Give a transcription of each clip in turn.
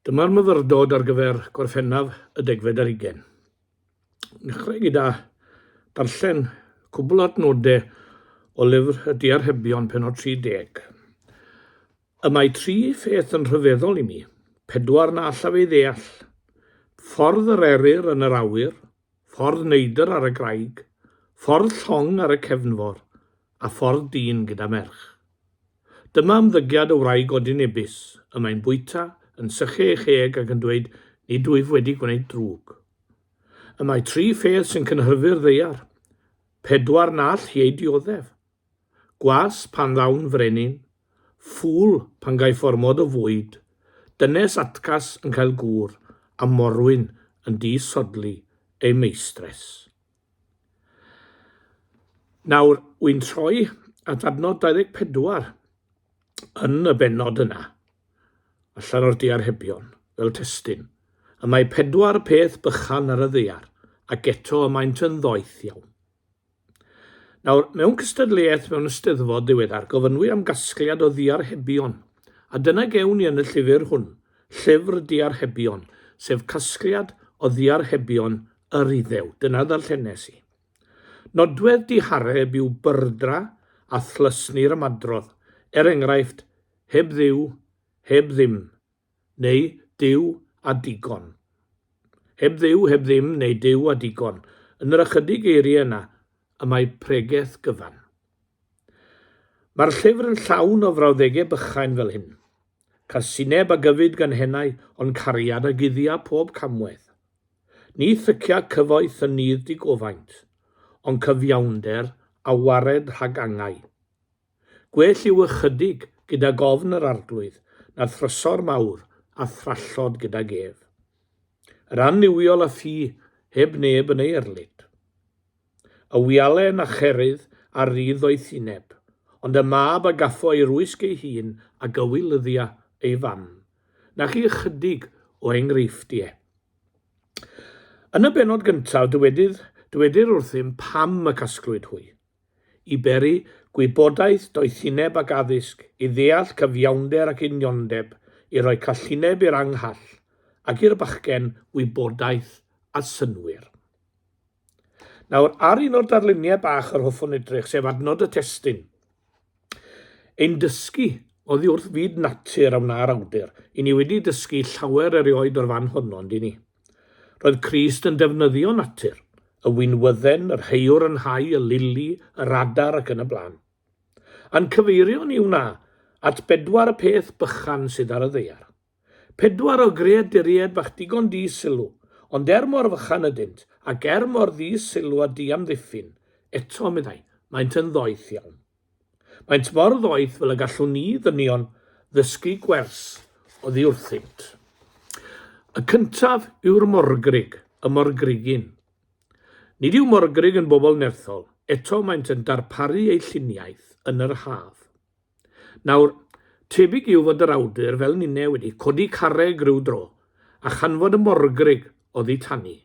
Dyma'r myfyrdod ar gyfer Gorffennaf y degfed ar ugain. Nechrau gyda darllen cwbl adnodau o lyfr y Diarhebion penod 30. Y mae tri pheth yn rhyfeddol i mi, pedwar na allaf ei ddeall, ffordd yr eryr yn yr awyr, Ffordd Neidr ar y graig, ffordd llong ar y cefnfor, a ffordd dyn gyda merch. Dyma ymddygiad y wraig odyn ebus, y mae'n bwyta, yn sychu ei cheg ac yn dweud nid wyf wedi gwneud drwg. Y mae tri pheth sy'n cynhyrfu'r ddaear. Pedwar na all hi eu dioddef. Gwas pan ddawn frenin, ffŵl pan gaiff ormod o fwyd, dynes atgas yn cael gŵr, a morwyn yn di-sodli ei meistres. Nawr, wy'n troi at adnod 24 yn y bennod yna, allan o'r diarhebion, fel testun. Y mae pedwar peth bychan ar y ddaear, ac eto y maent yn ddoeth iawn. Nawr, mewn cystadleuaeth mewn ysteddfod ddiweddar, gofynnwy am gasgliad o ddiarhebion, a dyna gewn ni yn y llyfr hwn, Llyfr Diarhebion, sef casgliad o ddiarhebion yr Iddew. Dyna ddarllenes i. Nodwedd dihareb yw byrdra a thlysni'r ymadrodd, er enghraifft, heb Dduw, heb ddim, neu Duw a digon. Heb Dduw, heb ddim, neu Duw a digon. Yn yr ychydig eiriau yna, y mae pregeth gyfan. Mae'r llyfr yn llawn o frawddegau bychain fel hyn. Casineb a gyfyd gan hennau, ond cariad a guddia pob camwedd. Ni thycia cyfoeth yn nydd digofaint, ond cyfiawnder a wared rhag angau. Gwell yw ychydig gydag ofn yr Arglwydd na thrysor mawr a thrallod gydag ef. Yr annuwiol a thi heb neb yn ei erlid. Y wialen a cherydd ar rydd o'i thineb, ond y mab a gaffo ei rwysg ei hun a gywilyddia ei fam. Na chi ychydig o enghreifftie. Yn y bennod gyntaf dywedir wrthym pam y casglwyd hwy. i beri gwybodaeth, doethineb ac addysg, i ddeall cyfiawnder ac uniondeb, i roi callineb i'r anghall, ac i'r bachgen wybodaeth a synnwyr. Nawr, ar un o'r darluniau bach yr hoffwn edrych, sef adnod y testun. Ein dysgu oddi wrth fyd natur a wna'r awdur, i ni wedi dysgu llawer erioed o'r fan honno, yndyn ni? Roedd Crist yn defnyddio natur, y winwydden, yr heuwr yn hau, y lili, yr adar ac yn y blaen. Yn cyfeirio ni wna at bedwar y peth bychan sydd ar y ddaear. Pedwar o greaduriaid bach digon di sylw, ond er mor fychan ydynt, ac er mor ddi sylw a di amddiffyn, eto, meddai, maent yn ddoeth iawn. Maent mor ddoeth fel y gallwn ni ddynion ddysgu gwers oddi wrthynt. Y cyntaf yw'r morgrug, y morgrugyn. Nid yw morgrug yn bobl nerthol, eto maent yn darparu eu lluniaeth yn yr haf. Nawr, tebyg yw fod yr awdur fel ninne wedi codi carreg rhyw dro, a chanfod y morgrug oddi tani.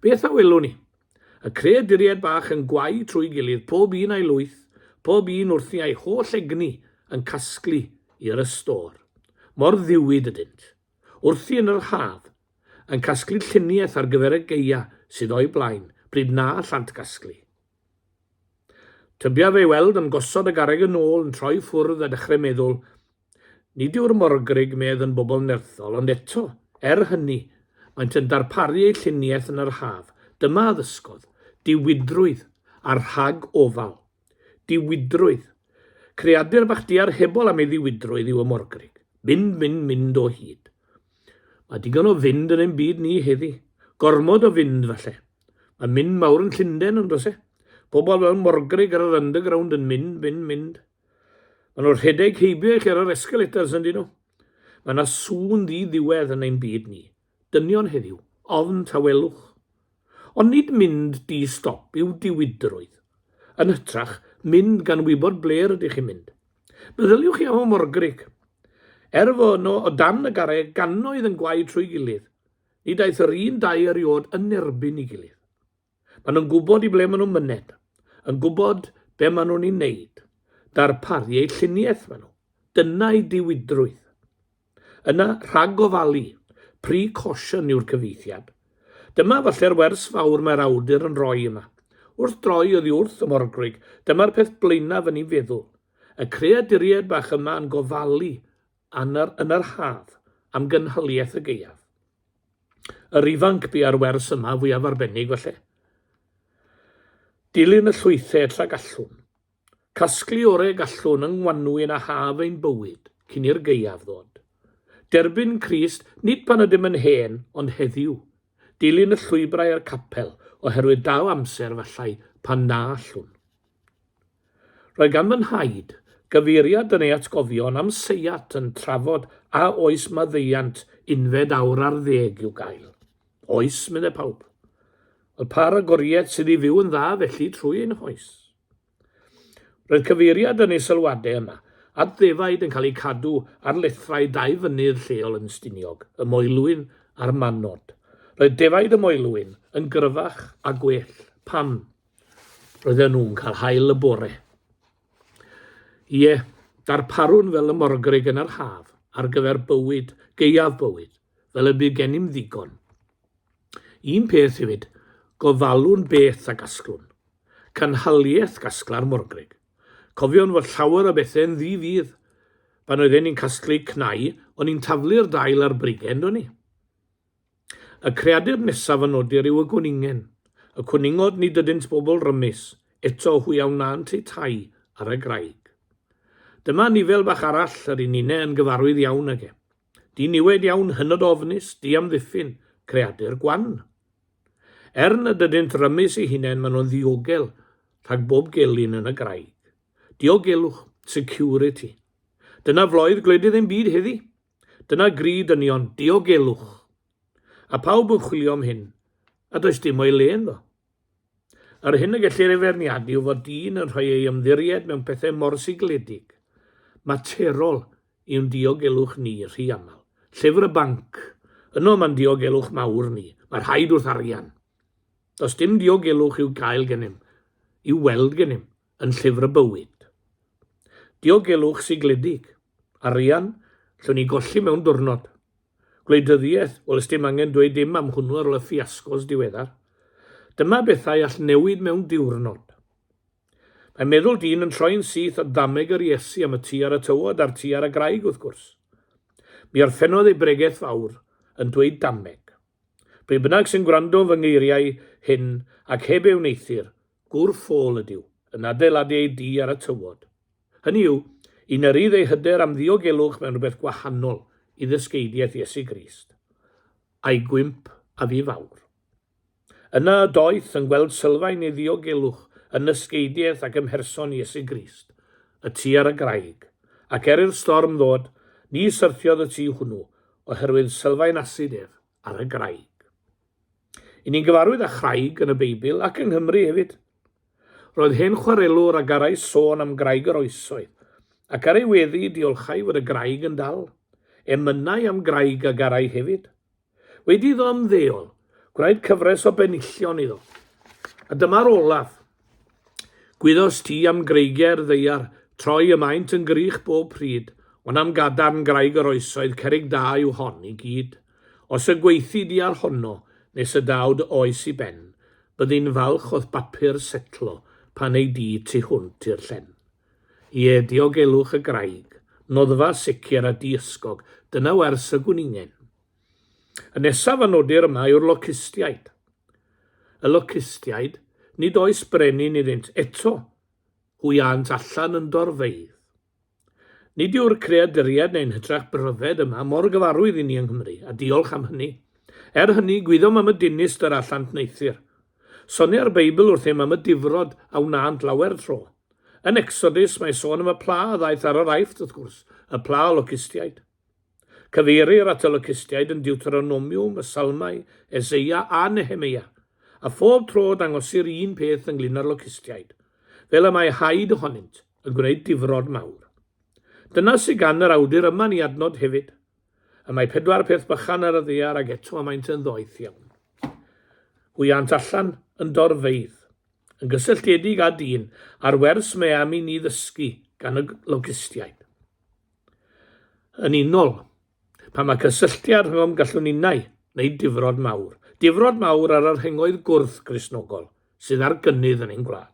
Beth a welwn ni? Y creaduriaid bach yn gwau trwy gilydd, pob un a'i lwyth, pob un wrthi a'i holl egni yn casglu i'r ystôr. Mor ddiwyd ydynt. Wrthi yn yr haf, yn casglu lluniaeth ar gyfer y gaeau sydd o'u blaen, bryd na allant gasglu. Tybiaf ei weld yn gosod y garreg yn ôl, yn troi ffwrdd a dechrau meddwl, Nid yw'r Morgrug medd yn bobl nerthol, ond eto, er hynny, maent yn darparu eu lluniaeth yn yr haf. Dyma addysgodd, diwydrwydd, a rhag ofal. Diwydrwydd. Creadur bach diar hebol am ei ddiwydrwydd yw y Morgrug. Mynd, mynd, mynd o hyd. Mae digon o fynd yn ein byd ni heddi. Gormod o fynd, falle. Mae mynd mawr yn Llundain, yn does e? Pobl fel Morgrug ar yr underground yn mynd, mynd, mynd. Mae nhw'n rhedeg heibio i chi ar yr escalators yn dyn nhw. Mae yna sŵn ddi-ddiwedd yn ein byd ni. Dynion heddiw, ofn tawelwch. Ond nid mynd di stop yw diwydrwydd. Yn hytrach, mynd gan wybod ble rydych chi'n mynd. Meddyliwch chi am y morgrig. Er fo yno o dan y garreg gannoedd yn gwaed trwy gilydd, nid aeth yr un dau eriod yn erbyn i gilydd. Maen nhw'n gwybod i ble maen nhw'n myned, yn gwybod be maen nhw'n ei wneud, darparu eu lluniaeth maen nhw. Dyna'i diwydrwydd. Yna, rhag ofalu, precaution yw'r cyfeithiad. Dyma falle'r wers fawr mae'r awdur yn rhoi yma. Wrth droi oddi wrth y morgrug, dyma'r peth blaenaf yn ei feddwl. Y creaduriaid bach yma yn gofalu yn yr, yn yr haf am gynhaliaeth y gaeaf. Yr ifanc bua'r wers yma fwyaf arbennig falle. Dilyn y llwythau tra gallwn. Casglu orau gallwn yng ngwanwyn a haf ein bywyd, cyn i'r gaeaf ddod. Derbyn Crist, nid pan ydym yn hen, ond heddiw. Dilyn y llwybrau a'r capel, oherwydd daw amser, efallai, pan na allwn. Roedd gan fy nhaid gyfeiriad yn ei atgofion am seiat yn trafod a oes maddeuant unfed awr ar ddeg i'w gael. Oes, meddai pawb. Wel, pa ragoriaeth sydd i fyw yn dda felly trwy ein hoes? Roedd cyfeiriad yn ei sylwadau yna at ddefaid yn cael eu cadw ar lethrau dau fynydd lleol yn Stiniog, y Moelwyn a'r Manod. Roedd defaid y Moelwyn yn gryfach a gwell. Pam? Roedden nhw'n cael hael y bore. Ie, darparwn fel y morgrig yn yr haf ar gyfer bywyd, geiaf bywyd, fel y bu gennym ddigon. Un peth hefyd, gofalwn beth a gasglwn. Canhaliaeth gasgla'r morgrig. Cofion fod llawer o bethau'n ddi-fydd. Pan oedden ni'n casglu cnau, o'n ni'n taflu'r dail a'r brigen, do'n ni. Y creadur nesaf a nodir yw y gwningen. Y cwningod nid ydynt bobl rymus, eto hwy a wnânt eu tai ar y graig. Dyma anifail bach arall yr un inne yn gyfarwydd iawn ag e. Diniwed iawn, hynod ofnus, diamddiffyn, creadur gwan. Er nad ydynt rymus eu hunain maen nhw'n ddiogel rhag bob gelyn yn y graig. Diogelwch, security. Dyna floedd gwledydd ein byd heddi. Dyna gri dynion, diogelwch. A pawb yn chwilio am hyn, a does dim o'i le ynddo. Yr hyn y gellir ei feirniadu yw fod dyn yn rhoi ei ymddiried mewn pethau mor sigledig, materol iwn diogelwch ni rhy aml. Llyfr y banc, yno mae'n diogelwch mawr ni, mae rhaid wrth arian. Does dim diogelwch i'w gael gennym, i'w weld gennym, yn Llyfr y Bywyd. Diogelwch sigledig, arian, llwn ni golli mewn diwrnod. Gwleidyddiaeth, wel ysdim angen dweud dim am hwnnw ar ôl y ffiasgos diweddar. Dyma bethau all newid mewn diwrnod. Mae meddwl dyn yn troi'n syth o ddameg yr Iesu am y tu ar y tywod a'r tu ar y graig wrth gwrs. Mi orffennodd ei bregeth fawr yn dweud dameg. Pwy bynnag sy'n gwrando fy ngeiriau hyn ac heb ei wneithir, Gŵr ffôl ydyw, yn adeiladu ei dŷ ar y tywod. Hynny yw, i nyrydd ei hyder am ddiogelwch mewn rhywbeth gwahanol i ddysgeidiaeth Iesu Grist, a'i gwymp a fu fawr. Yna y doeth yn gweld sylfaen ei ddiogelwch yn nysgeidiaeth ac ym mherson Iesu Grist, y Ty ar y Graig, ac er i'r storm ddod, ni syrthiodd y Ty hwnnw, oherwydd sylfaen asid ef ar y Graig. I ni'n gyfarwydd â Chraig yn y Beibl ac yng Nghymru hefyd. Roedd hen chwarelwr a garai sôn am Graig yr Oesoedd, ac ar ei weddi diolchai fod y graig yn dal. Emynai am Graig a garai hefyd. Wedi iddo ymddeol, gwnaed cyfres o benillion iddo. A dyma'r olaf. Gwyddost ti am greigiau'r ddaear troi y maent yn grych bob pryd, ond am gadarn graig yr oesoedd cerrig da yw hon i gyd. Os y gweithid di ar honno nes y daw dy oes i ben, byddi'n falch o'th bapur setlo pan ei di tu hwnt i'r llen. Ie, diogelwch y graig, noddfa sicr a diysgog, dyna wers y gwningen. Y nesaf a nodir yma yw'r locustiaid. Y locustiaid, nid oes brenin iddynt eto, hwyânt allan yn dorfeydd. Nid yw'r creaduriaid neu'n hytrach bryfed yma mor gyfarwydd i ni yng Nghymru, a diolch am hynny. Er hynny, gwyddom am y dinist yr allant wneuthur. Sonia'r Beibl wrthym am y difrod a wnânt lawer tro. Yn Exodus, mae sôn am y pla a ddaeth ar yr Aifft, wrth gwrs, y pla o locustiaid. Cyfeirir at y locustiaid yn Diwteronomiwm, y Salmau, Eseia a Nehemeia, a phob tro dangosir un peth ynglŷn â'r locustiaid, fel y mae haid ohonynt yn gwneud difrod mawr. Dyna sydd gan yr awdur yma'n ei adnod hefyd, y mae pedwar peth bychan ar y ddaear ac eto y maent yn ddoeth iawn. Hwyânt allan yn dorfeydd. Yn gysylltiedig â dyn, a'r wers mae am i ni ddysgu gan y locustiaid. yn unol pan mae cysylltiad rhwng gallwn ninnau wneud difrod mawr, difrod mawr ar yr hengoedd gwrth Gristnogol sydd ar gynnydd yn ein gwlad.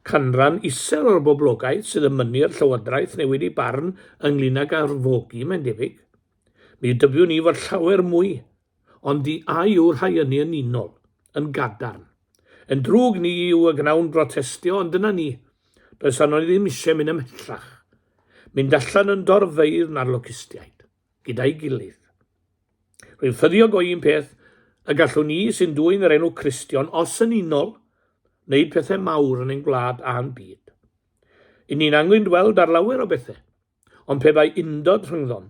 Canran isel o'r boblogaeth sydd yn mynnu i'r Llywodraeth newid ei barn ynglyn ag arfogi, mae'n debyg. Mi dybiwn i fod llawer mwy ond di a yw rhai ynni yn unol, yn gadarn. Yn drwg ni yw y gnawn brotestio, ond dyna ni. Does arno ni ddim eisiau mynd ymhellach. Mynd allan yn dorfeidd na'r locustiaid, gyda'i gilydd. Rwy'n ffyddiog o un peth, y gallwn ni sy'n dwy'n yr enw Cristion, os yn unol, wneud pethau mawr yn ein gwlad a'n byd. Yn ni'n angen dweld ar lawer o bethau. Ond pe bai undod rhyngddom,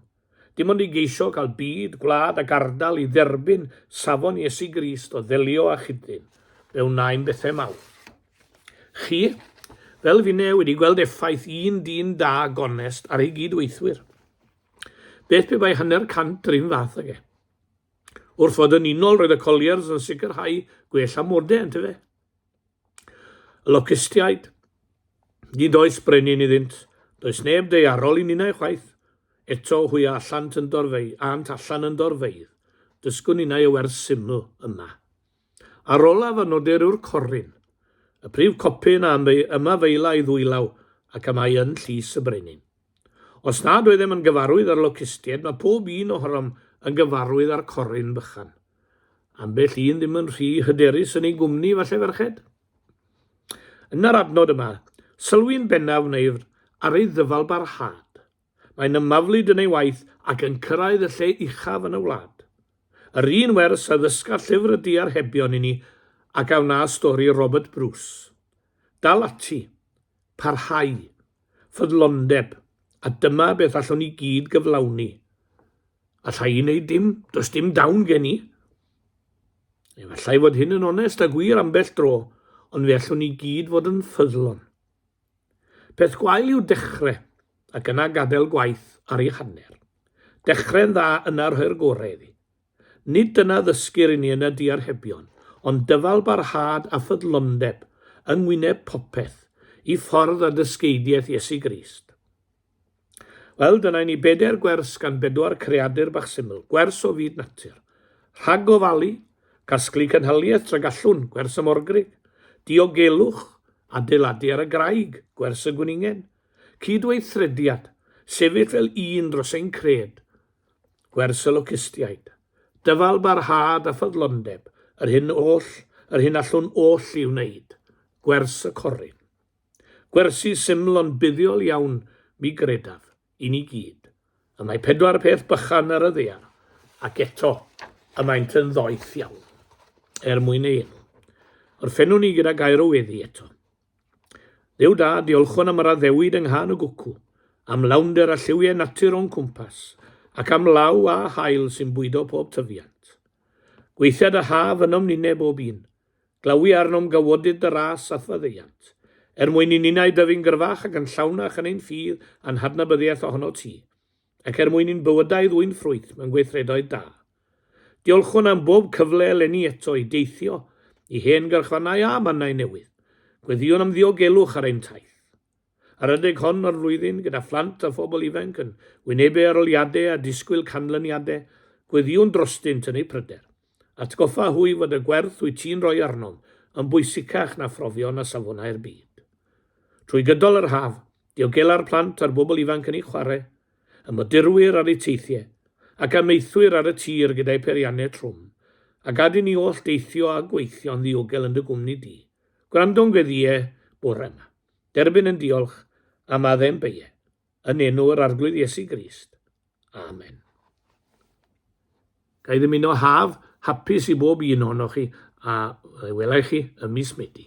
dim ond i geisio cael byd, gwlad ac ardal i dderbyn safon Iesu Grist o ddelio â chyd-dyn, fe wnaem bethau mawr. Chi, fel finne, wedi gweld effaith un dyn da, gonest, ar ei gyd-weithwyr. Beth pe bai hanner cant yr un fath ag e? Wrth fod yn unol, roedd y Colliers yn sicrhau gwell amodau, yntyfe? Y locustiaid. Nid oes brenin iddynt. Does neb deiarol i ninnau chwaith. Eto hwy allant yn dorfei, ant allan yn dorfeidd. Dysgwn ninnau y wers syml yma. Ar olaf a nodir yw'r corrin. Y prif copyn a yma feila ei ddwylaw ac am ai yn llys y brenin. Os nad oeddem yn gyfarwydd ar locustiaid, mae pob un ohonom yn gyfarwydd ar corrin bychan. Ambell un ddim yn rhy hyderus yn ei gwmni, falle ferched? Yn yr adnod yma, sylwi'n bennaf wneir ar ei ddyfalbarhad. Mae'n ymaflyd yn ei waith ac yn cyrraedd y lle uchaf yn y wlad. Yr un wers a ddysga llyfr y diarhebion i ni ac a wna stori Robert Bruce. Dal ati! Parhau, ffyddlondeb, a dyma beth allwn ni gyd gyflawni. Alla i wneud dim, does dim dawn gen i. Efallai fod hyn yn onest a gwir ambell dro, ond fe allwn ni gyd fod yn ffyddlon. Peth gwael yw dechrau, ac yna gadael gwaith ar ei hanner. Dechrau'n dda yna rhoi'r gorau iddi. Nid dyna ddysgir i ni yn y diarhebion, ond dyfalbarhad a ffyddlondeb yng ngwyneb popeth, i ffordd a dysgeidiaeth Iesu Grist. Wel, dyna i ni bedair gwers gan bedwar creadur bach syml, gwers o fyd natur. Rhag gofalu, casglu cynhaliaeth tra gallwn, gwers y morgrug. Diogelwch, adeiladu ar y graig, gwers y gwningen. Cydweithrediad, sefyll fel un dros ein cred. Gwers y locustiaid. Dyfal barhad a ffyddlondeb, yr hyn oll, yr hyn allwn oll i wneud. Gwers y corrin. Gwersi syml ond buddiol iawn, mi gredaf, i ni gyd. Y mae pedwar peth bychan ar y ddear, ac eto, y maent yn ddoeth iawn. Er mwyn ei enw. Orffennwn ni gyda gair o weddi eto. Duw da, diolchwn am yr addewid yng nghan y gwcw, am lawnder a lliwiau natur o'n cwmpas, ac am law a haul sy'n bwydo pob tyfiant. Gweithiad a haf ynom ninne bob un. Glawi arnom gawodydd dy ras a'th faddeuant, er mwyn i ninnau dyfu'n gyrfach ac yn llawnach yn ein ffydd a'n hadnabyddiaeth ohono ti. ac er mwyn i'n bywydau ddwyn ffrwyth mewn gweithredoedd da. Diolchwn am bob cyfle eleni eto i deithio i hen garchfannau a mannau newydd. Gweddïwn am ddiogelwch ar ein taith. Ar adeg hon o'r flwyddyn, gyda phlant a phobl ifanc yn wynebu aroliadau a disgwyl canlyniadau, gweddïwn drostynt yn eu pryder. Atgoffa hwy fod y gwerth wyt ti'n rhoi arnom yn bwysicach na phrofion a safonau'r byd. Trwy gydol yr haf, diogela'r plant a'r bobl ifanc yn eu chwarae, y modurwyr ar eu teithiau, ac amaethwyr ar y tir gyda'u peiriannau trwm, a gad i ni oll deithio a gweithio'n ddiogel yn dy gwmni di. Gwrando'n gweddïe bore yma. Derbyn yn diolch am addem beie. Yn enw yr Arglwydd Iesu Grist. Amen. Ga i ddymuno haf hapus i bob un ohonoch chi a wela i chi ym mis Medi.